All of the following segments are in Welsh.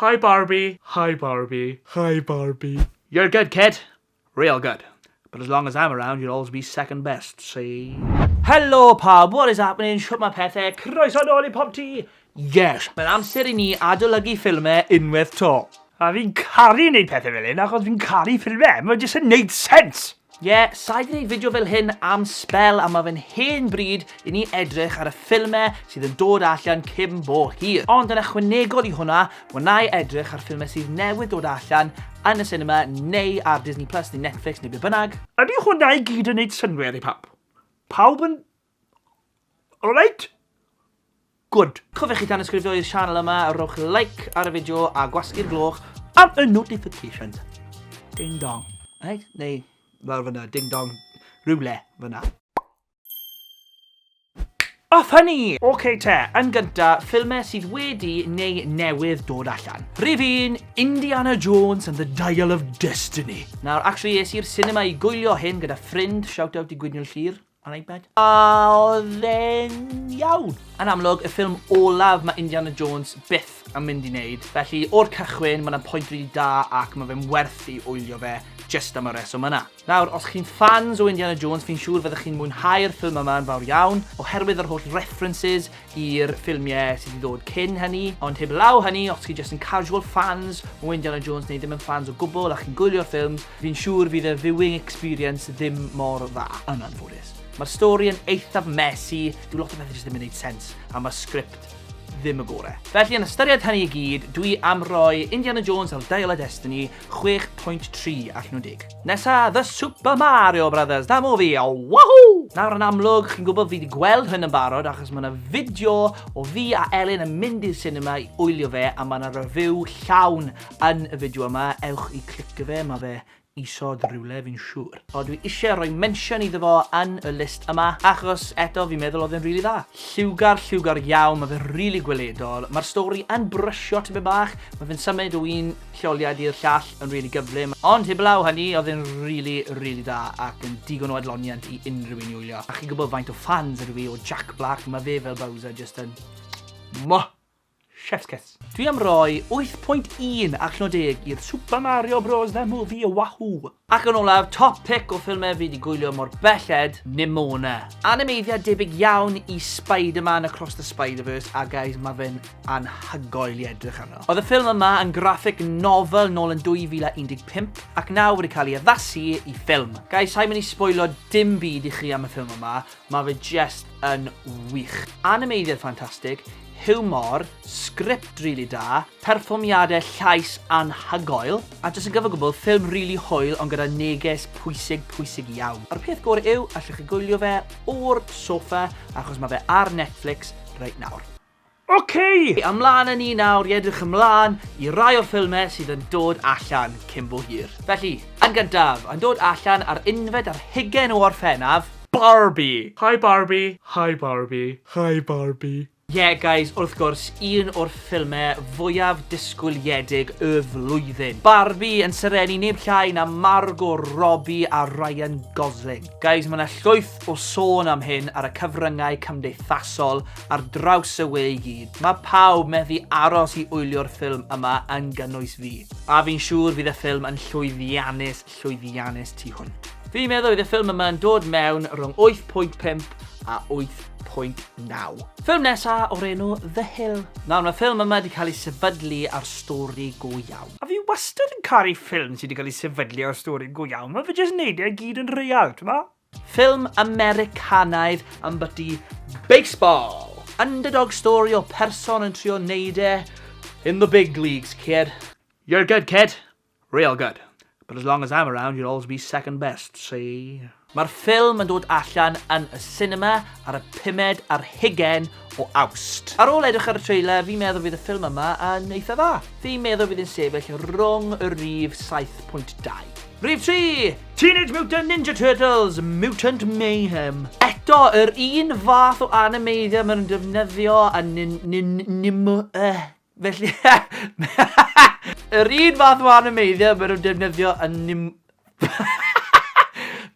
Hi Barbie! Hi Barbie! Hi Barbie! You're good kid! Real good! But as long as I'm around you'll always be second best, see? Helo pawb, what is happening, shwt mae pethau, croeso nôl i Pop Tŷ! Yes, mae'n amser i ni adolygu ffilmau unwaith to. A fi'n caru neud pethau fel hyn achos fi'n caru ffilmau, mae'n jyst yn neud sense! Ie, sa'i gwneud fideo fel hyn am sbel a mae fe'n hen bryd i ni edrych ar y ffilmau sydd yn dod allan cyn bo hir. Ond yn ychwanegol i hwnna, wna'i edrych ar ffilmau sydd newydd dod allan yn y sinema neu ar Disney Plus neu Netflix neu be bynnag. Ydy hwnna i gyd yn neud synnwyr i pawb? Pawb yn Alright? Good. Cofiwch i danysgrifio i'r sianel yma, rhowch like ar y fideo a gwasgu'r gloch am y notifications. Ding dong. Right? Neu, fel fyna, ding dong, rhywle fyna. Off hynny! Ok te, yn gynta, ffilmau sydd wedi neu newydd dod allan. Rhyf un, Indiana Jones and the Dial of Destiny. Nawr, actually, es i'r cinema i gwylio hyn gyda ffrind, shout out i Gwydion Llyr. Ar iPad. A oedd e'n iawn. Yn amlwg, y ffilm olaf mae Indiana Jones byth yn mynd i wneud. Felly, o'r cychwyn, mae yna pwynt rili da ac mae fe'n werth i wylio fe just am y reswm yna. Nawr, os chi'n ffans o Indiana Jones, fi'n siŵr fyddwch chi'n mwynhau'r ffilm yma yn fawr iawn, oherwydd yr holl references, i'r ffilmiau sydd wedi dod cyn hynny, ond heb law hynny, os chi jyst yn casual fans o Indiana Jones neu ddim yn fans o gwbl a chi'n gwylio'r ffilms, fi'n siŵr fydd y viewing experience ddim mor dda, yn anffodus. Mae'r stori yn eithaf messy, dyw lot o bethau jyst ddim yn neud sens, a mae'r sgript ddim y gore. Felly yn ystyried hynny i gyd, dwi am roi Indiana Jones a'r Dial of Destiny 6.3 allan o 10. Nesa, The Super Mario Brothers, da movie, oh, wahoo! Nawr yn amlwg, chi'n gwybod fi wedi gweld hyn yn barod achos mae yna fideo o fi a Elin yn mynd i'r cinema i wylio fe a mae yna review llawn yn y fideo yma, ewch i clicio fe, mae fe isod rhywle fi'n siŵr. O, dwi eisiau rhoi mention iddo fo yn y list yma, achos eto fi'n meddwl oedd e'n rili really dda. Lliwgar, lliwgar iawn, mae fe'n rili really gweledol, mae'r stori yn brysio tipyn bach, mae fe'n symud o un lleoliad i'r llall yn rili gyflym, ond heblaw hynny oedd e'n rili, rili da ac yn digon o adloniant i unrhyw un i wylio. A chi'n gwybod faint o ffans ydw i o Jack Black, mae fe fel Bowser jyst yn... Mwah! Chef's kiss. Dwi am roi 8.1 allan o 10 i'r Super Mario Bros The Movie Wahoo! Ac yn olaf, top pick o ffilmau fi di gwylio mor belled, Nimona. Animeiddiad debyg iawn i Spider-Man Across the Spider-Verse a guys, mae fe'n anhygoel i edrych arno. Oedd y ffilm yma yn graffic novel nôl yn 2015 ac nawr wedi cael ei addasu i ffilm. Guys, sa'i mynd i sboilio dim byd i chi am y ffilm yma, Mae fe jest yn wych. Animeiddiad ffantastig, hiwmor, sgript rili da, perfformiadau llais anhygoel, a jyst yn gyfan-gwbl, ffilm rili hwyl ond gyda neges pwysig, pwysig iawn. A'r peth gore yw, allwch chi gwylio fe o'r soffa achos mae fe ar Netflix reit nawr. Oce! Ymlaen â ni nawr i edrych ymlaen i rai o'r ffilmau sydd yn dod allan cyn bo hir. Felly, yn gyntaf, yn dod allan ar unfed ar hugain o Orffennaf, Barbie! Hi Barbie! Hi Barbie! Hi Barbie! Ie, guys, wrth gwrs, un o'r ffilmau fwyaf disgwyliedig y flwyddyn. Barbie yn serennu neb llai na Margot Robbie a Ryan Gosling. Guys, mae 'na llwyth o sôn am hyn ar y cyfryngau cymdeithasol, ar draws y we i gyd. Mae pawb methu aros i wylio'r ffilm yma yn gynnwys fi. A fi'n siŵr fydd y ffilm yn llwyddiannus, llwyddiannus tu hwnt. Fi'n meddwl bydd y ffilm yma yn dod mewn rhwng 8.5 a 8.9. Ffilm nesa o'r enw The Hill. Nawr mae ffilm yma wedi cael ei sefydlu ar stori go iawn. A fi wastad yn caru ffilm sydd wedi cael ei sefydlu ar stori go iawn. Mae fe jyst yn neud e i gyd yn real, t'mo? Ffilm Americanaidd ambyti baseball! Underdog story o person yn trio neud e in the big leagues, kid. You're good, kid. Real good. But as long as I'm around you'll always be second best, see? Mae'r ffilm yn dod allan yn y sinema ar y pumed ar hugen o Awst. Ar ôl edrych ar y trailer, fi'n meddwl fydd y ffilm yma yn eitha dda. Fi'n meddwl fydd yn sefyll rwng y rif 7.2. Rif 3! Teenage Mutant Ninja Turtles, Mutant Mayhem. Eto, yr un fath o animeiddio maen nhw'n defnyddio a nin... nin... nim... Uh, felly... yr un fath o animeiddio maen nhw'n defnyddio a nim...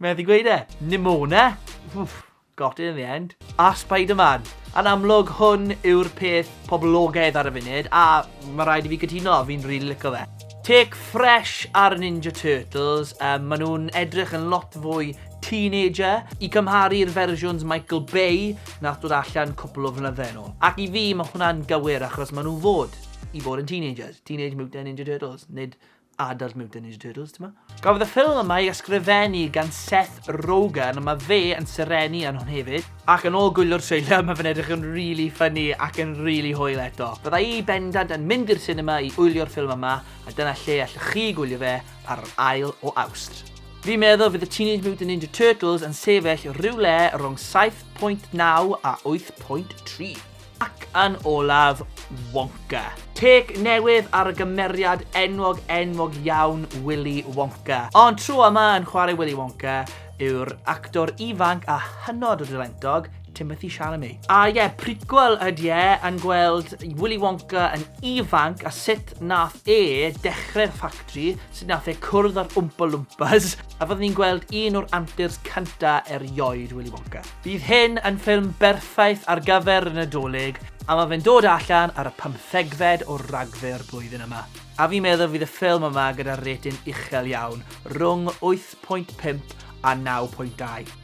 Methu gweud e. Nimona. Wff. Got it in the end. A Spider-Man! Yn amlwg, hwn yw'r peth poblogaidd ar y funud, a mae rhaid i fi gytuno, fi'n rili really licio fe. Take fresh ar y Ninja Turtles, um, maen nhw'n edrych yn lot fwy teenager i cymharu i'r fersiwns Michael Bay nath dod allan cwpl o flynyddau yn ôl. Ac i fi, mae hwnna'n gywir achos maen nhw fod i fod yn teenagers, Teenage Mutant Ninja Turtles, nid Adult Mutant Ninja Turtles, ti'n ma? Gafodd y ffilm yma ei ysgrifennu gan Seth Rogen, mae fe yn serenu yn hwn hefyd. Ac yn ôl gwylio'r trailer, mae fe'n edrych yn really funny ac yn really hwyl eto. Bydda i bendant yn mynd i'r cinema i wylio'r ffilm yma, a dyna lle allwch chi gwylio fe ar yr ail o Awst. Fi'n meddwl fydd y Teenage Mutant Ninja Turtles yn sefyll rhyw le rhwng 7.9 a 8.3. Ac yn olaf, Wonka. Take newydd ar y gymeriad enwog enwog iawn Willy Wonka. Ond tro yma yn chwarae Willy Wonka yw'r actor ifanc a hynod o dalentog, Timothy Chalamet. A ie, yeah, prequel ydy e, yn gweld Willy Wonka yn ifanc a sut nath e dechrau'r ffactri, sut nath e cwrdd â'r Oompa Loompas, a fyddwn ni'n gweld un o'r antirs cynta erioed Willy Wonka. Bydd hyn yn ffilm berffaith ar gyfer y Nadolig a mae fe'n dod allan ar y pymthegfed o Ragfyr blwyddyn yma. A fi'n meddwl fydd y ffilm yma gyda'r rating uchel iawn, rhwng 8.5 a 9.2.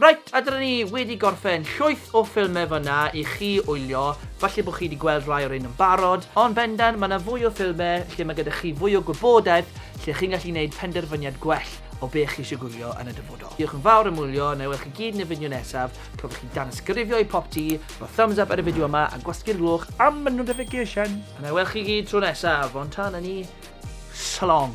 Reit, a dyna ni wedi gorffen llwyth o ffilmau fanna i chi wylio, falle bod chi wedi gweld rai o'r un yn barod, ond bendant mae yna fwy o ffilmau lle mae gyda chi fwy o gwybodaeth lle chi'n gallu gwneud penderfyniad gwell o be chi eisiau gwylio yn y dyfodol. Diolch yn fawr am wylio, na i weld chi gyd yn y fideo nesaf, cofiwch i danysgrifio i popty, rho thumbs up ar y fideo yma a gwasgu'r gloch am y notification! A na i weld chi gyd tro nesaf, ond tan hynny, so long!